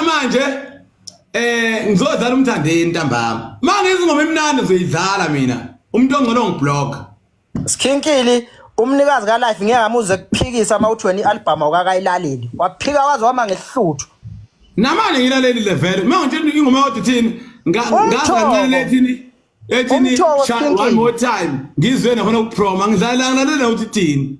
manje eh ngizodlala umthandeni ntambama manje izingoma emnandi ngizoyidlala mina umuntu ongcono ngiblock Skinkili umnikazi ka life ngeke amuze kuphikisa uma uthi wena ialbum awukakayilaleli waphika waze wama ngehluthu namanje ngilaleli level uma ngitshela ingoma yodwa thini ngazancane ethini ethini one more time ngizwe nafuna ukuproma ngidlala ngilalele ukuthi thini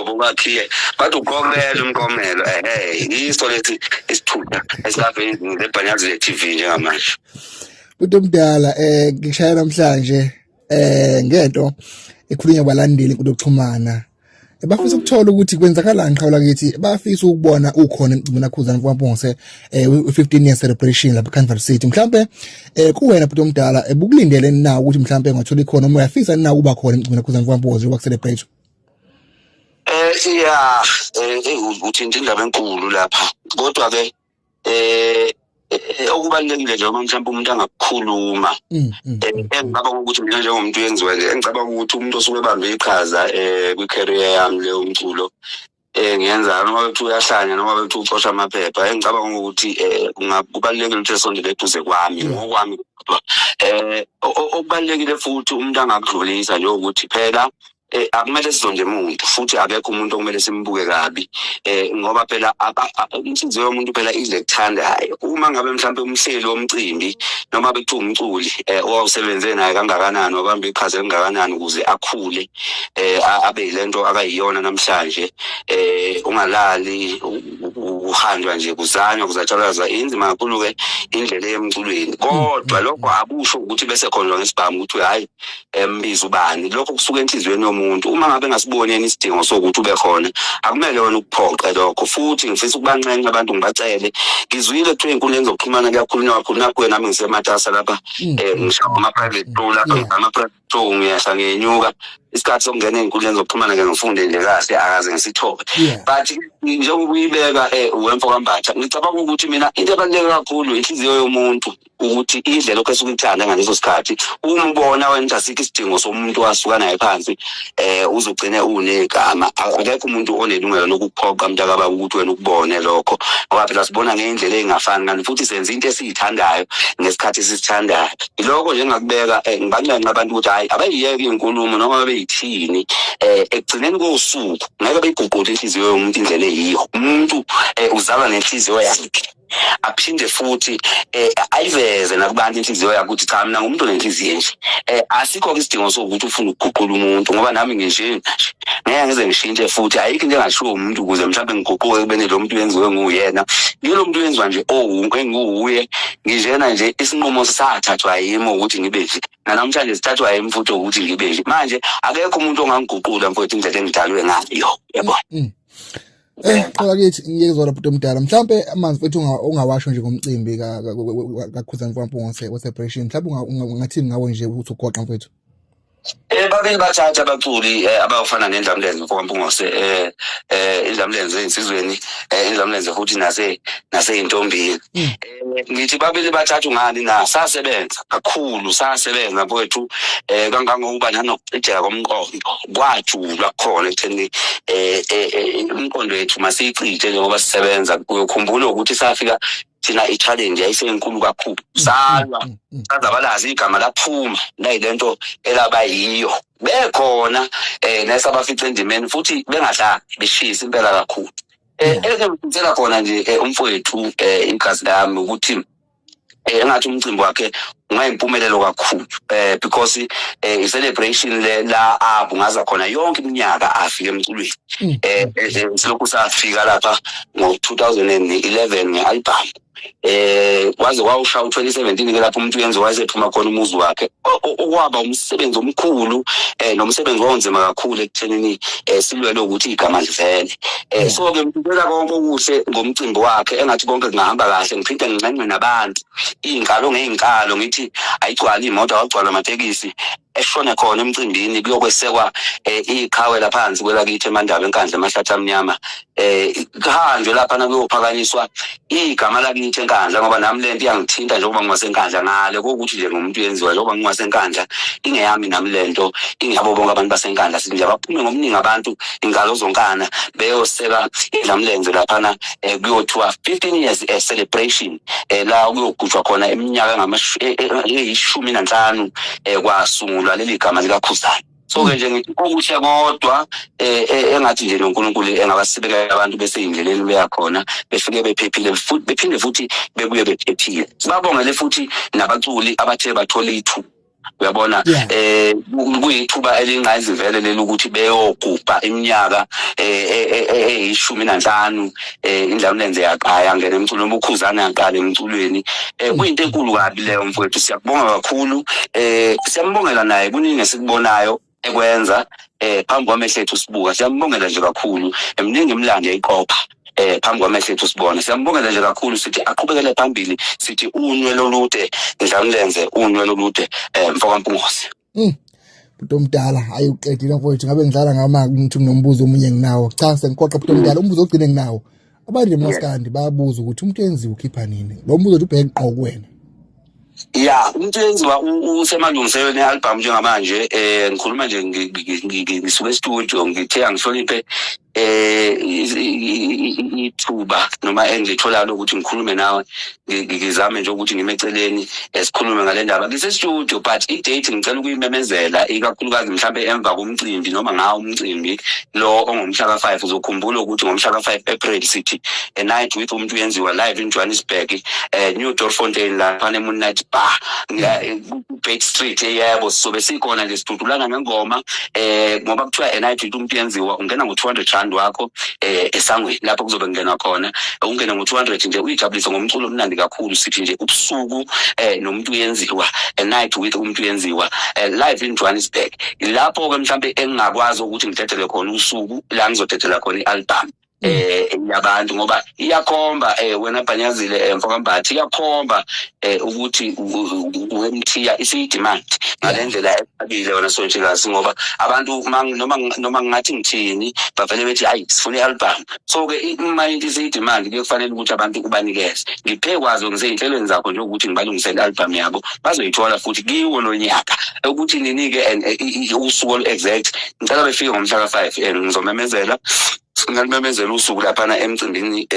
obokakhiye bathi uqomele umqomelo ehe yiso lesi isithutha esingaveli lebhanyazi le-tv njengamanje umuntu omdala eh ngishaya namhlanje eh ngento ekhulunywa balandeli inkulu yokuxhumana bafisa ukuthola ukuthi kwenzakalani qhawula kithi bafisa ukubona ukhona emcimbini akhuzana kwaMpongose eh 15 year celebration lapha Canvas City mhlambe eh kuwena bhuti omdala ebukulindele eh, na ukuthi mhlambe ngathola ikhona uma uyafisa na ukuba khona emcimbini akhuzana kwaMpongose yokucelebrate Eh yeah, eh, eh uthinta indaba enkulu lapha. Kodwa ke eh, eh okubalekile nje uma mhlawumbe umuntu angakukhuluma mm, mm. Eh, engicabanga ukuthi mina njengomuntu yenziwa nje engicabanga ukuthi umuntu osuke ebambe iqhaza eh kwi career yami le umculo eh ngiyenzana noma bethi uyahlanya noma bethi ucosha amaphepha engicabanga ukuthi eh kubalekile ukuthi esondele eduze kwami mm. ngokwami eh okubalekile futhi umuntu angakudlulisa nje ukuthi phela eh, akumele sizonde muntu futhi akekho umuntu okumele simbuke kabi eh, ngoba phela inhliziyo yomuntu phela idle kuthandayo uma ngabe mhlawumbe umhleli womcimbi noma bekuthiwa umculi eh, owawusebenze naye kangakanani wabamba iqhaza elingakanani ukuze akhule eh, abe yile nto akayiyona namhlanje eh, ungalali kuhanjwa nje kuzanywa kuzatshalazwa inzima kakhulu-ke indlela eyemculweni kodwa lokho akusho ukuthi bese khonjwa ngesibhamu ukuthi hhayi embiza ubani lokho kusuka enhliziyweni yomuntu uma ngabe ngasiboni yena isidingo sokuthi ube khona akumele wena ukuphoqe lokho futhi ngifisa ukubanxenxa abantu ngibacele ngizwile kuthiwa ey'nkundleni zokuxhumana kuyakhulunywa kakhulu nakho wena nami ngisematasa lapha um ngishaba ama-private two lapha ama-private two ngiyehla ngiyenyuka isikhathi sokungena ey'nkundleni zokuxhumana ke ngifunde nje kahle akaze ngisithole but njengoba uyibeka um wemfo kambatha ngicabanga ukuthi mina into ebaluleke kakhulu inhliziyo yomuntu ukuthi indlela ophese ukumthanda ngaleso sikhathi umbona wena ukuthi asikho isidingo somuntu wasuka naye phansi eh uzogcine unegama akekho umuntu onelungelo lokuphoqa mntaka baba ukuthi wena ukubone lokho ngoba phela sibona ngendlela engafani kanti futhi senza into esiyithandayo ngesikhathi sisithandayo iloko nje ngakubeka eh, ngibancenga abantu ukuthi hayi abayiyeke inkulumo noma beyithini eh ekugcineni kosuku ngeke beyiguqule inhliziyo yomuntu indlela eyiyo umuntu eh, uzalwa nenhliziyo yakhe aphinde futhi eh, ayiveze nakubantu inhliziyo yakho ukuthi cha mina ngumuntu onenhliziyo nje eh, asikho ke isidingo sokuthi ufune ukuguqula umuntu ngoba nami nginje ngeke ngize ngishintshe futhi ayikho into engashiwo umuntu ukuze mhlawumbe ngiguquke kubene lo muntu wenziwe nguyena ngilo muntu wenziwa nje owunke oh, enguwuye nginjena nje isinqumo sathathwa yimi ukuthi ngibe nje nanamhlanje sithathwa yimi futhi ukuthi ngibe nje manje akekho umuntu ongangiguqula mfowethu indlela engidalwe ngayo yebo mm. Eh, qala kithi ngiyeke zona bhuti omdala. Mhlambe amanzi futhi ungawasho nje ngomcimbi ka kakhuzani kwampunga se celebration. Mhlambe ungathini ngawo nje ukuthi ugoqa mfethu. Eh babili bathatha abaculi eh, abafana nendlamlenze mfokampungose eh eh indlamlenze insizweni eh indlamlenze futhi nase nase intombini hmm. eh, ngithi babili bathathu ngani na sasebenza kakhulu sasebenza mfowethu eh kangangokuba nanokucijeka komqondo kwajulwa khona ekutheni um eh, eh, eh, imqondo yethu masiyicije njengoba sisebenza uyokhumbula ukuthi safika thina i-challenge yayisenkulu kakhulu salwa mm, mm, mm. sazabalazi igama laphuma nayile nto elaba yiyo bekhona um nesabafica endimeni futhi bengadlali beshisa impela kakhulu um elike ngikhutshela khona nje um umfowethu um igazi lami ukuthi eh, engathi umcimbi wakhe ungayimpumelelo kakhulu eh because eh i celebration le la abu ngaza khona yonke iminyaka afike emculweni mm. eh, eh, eh silokhu safika lapha ngo 2011 nge album eh waze wawusha u2017 ke lapho umuntu uyenze wayesephuma khona umuzi wakhe okwaba umsebenzi omkhulu eh nomsebenzi wonzima kakhulu ekuthenini eh silwele ukuthi igama livele um so ke ngibeka konke okuhle ngomcimbi wakhe engathi konke kungahamba kahle ngiphinde nginxenxe nabantu iy'nkalo ngey'nkalo ngithi ayigcwali iy'moto awagcwala amatekisi eshone khona emcimbini kuyokwesekwa um iqhawe laphansi kwelakithi emandaba enkandla emahlathi amnyama um kuhanjwe lapha nakuyophakanyiswa igama lakithi enkandla ngoba nami le nto iyangithinta njengoba ngingasenkandla ngale kokuthi nje ngomuntu yenziwa njengoba ngingasenkandla ingeyami nami le nto ingeyabo bonke abantu basenkandla sithi nje abaphume ngobuningi abantu ingalo zonkana beyoseka idlamlenze laphana um kuyothiwa fifteen years um celebration um la kuyogujwa khona iminyaka eyishumi nanhlanu um kwasungulwa leli gama likakhuzani so ke nje ngithi okuhle kodwa eh, eh, engathi nje noNkulunkulu engabasibekela abantu beseyindleleni beyakhona befike bephephile futhi bephinde futhi bebuye bephephile sibabongele futhi nabaculi abathe bathola ithuba uyabona eh kuyithuba elingqayizivele leli ukuthi beyogubha iminyaka eh, eh, eh, eh, eyishumi nanhlanu eh indlamlenze yaqaya ngene emculweni ubukhuzana yaqala emculweni eh kuyinto enkulu kabi leyo mfowethu siyakubonga kakhulu eh siyambongela naye kuningi esikubonayo ekwenza eh phambi kwamehlo ethu sibuka siyambongela nje kakhulu emningi imlando eyiqopha eh phambi kwamehlo ethu sibona siyambongela nje kakhulu sithi aqhubekele phambili sithi unwe lolude ndlamlenze unwe lolude eh mfokampungose Mm. Bhuti omdala hayi uqedile mfowethu ngabe ngidlala ngama ngithi nginombuzo omunye nginawo. Cha sengikhoqa bhuti omdala umbuzo ogcine nginawo. Abantu emaskandi bayabuza ukuthi umuntu yenziwa ukhipha nini? Lo mbuzo uthi ubheke qoko wena. ya umuntu yenziwa usemalungiselweni e-albhamu njengamanje um ngikhuluma nje ngisuke estudio ngithe angihloniphe eh ithuba noma engitholayo lokuthi ngikhulume nawe ngi- ngi- ngizame nje ukuthi ngime eceleni eh, sikhulume ngale ndaba ngisestudio but i-date ngicela ukuyimemezela ikakhulukazi mhlawumbe emva komcimbi noma ngawo umcimbi lo ongomhla ka-five uzokhumbula ukuthi ngomhla ka-five april sithi a night with umuntu uyenziwa live in johannesburg um new dorfontein laphana emoonlight bar Ngiya- Back Street yebo sizobe sikhona nje sidudulana ngengoma eh ngoba kuthiwa a night into umuntu yenziwa ungena ngo-200 rand wakho eh esangweni lapho kuzobe kungenwa khona Eh, ungena ngo-200 nje uyijabulise ngomculo omnandi kakhulu sithi nje ubusuku eh nomuntu uyenziwa a night with umuntu uyenziwa eh, live in Johannesburg lapho ke mhlambe engingakwazi ukuthi ngidedele khona usuku la ngizodedela khona i-album eh yabantu ngoba iyakhomba eh wena bhanyazile eh, mfokambathi iyakhomba eh ukuthi wemthiya isiyidemand ngalendlela ebile wena sontshikazi ngoba abantu noma noma ngathi ngithini bavele bethi hayi sifuna i-album so ke uma into isiyidemand kuyokufanele ukuthi abantu ubanikeze ngiphe kwazo ngiseyinhlelweni zakho nje ukuthi ngibalungisele i-album yabo bazoyithola futhi kiwo nonyaka ukuthi ninike eh, usuku olu-exact ngicela befike ngomhla ka-five and ngizomemezela ngalumemezela usuku laphana emcimbini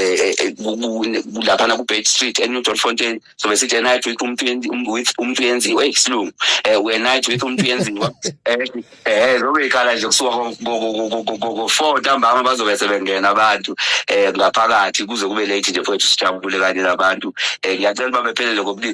laphana ku-bed street enew dot fontain sobe sithi a night with umuntu with umuntu yenziwa eyi silungu um we night with umuntu yenziwa um zobe ikhala nje kusuka ngo-four ntambama bazobe sebengena abantu um ngaphakathi kuze kube late nje fowethu sijabule kanye nabantu um ngiyacela uba bephelele ngobulili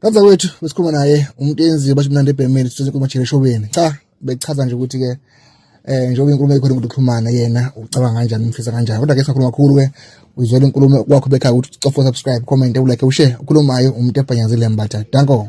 Kanza wethu besikhuluma naye umuntu enziwe basho mnandi ebhemeni sithoze kukhuluma nje eshobeni. Cha bechaza nje ukuthi ke eh njengoba inkulumo ekhona ukuthi uxhumana yena ucabanga kanjani umfisa kanjani kodwa ke sakhuluma kakhulu ke uyizwela inkulumo kwakho bekhaya ukuthi ucofa subscribe comment ulike ushare ukhulumayo umuntu ebhanyazile mbatha danko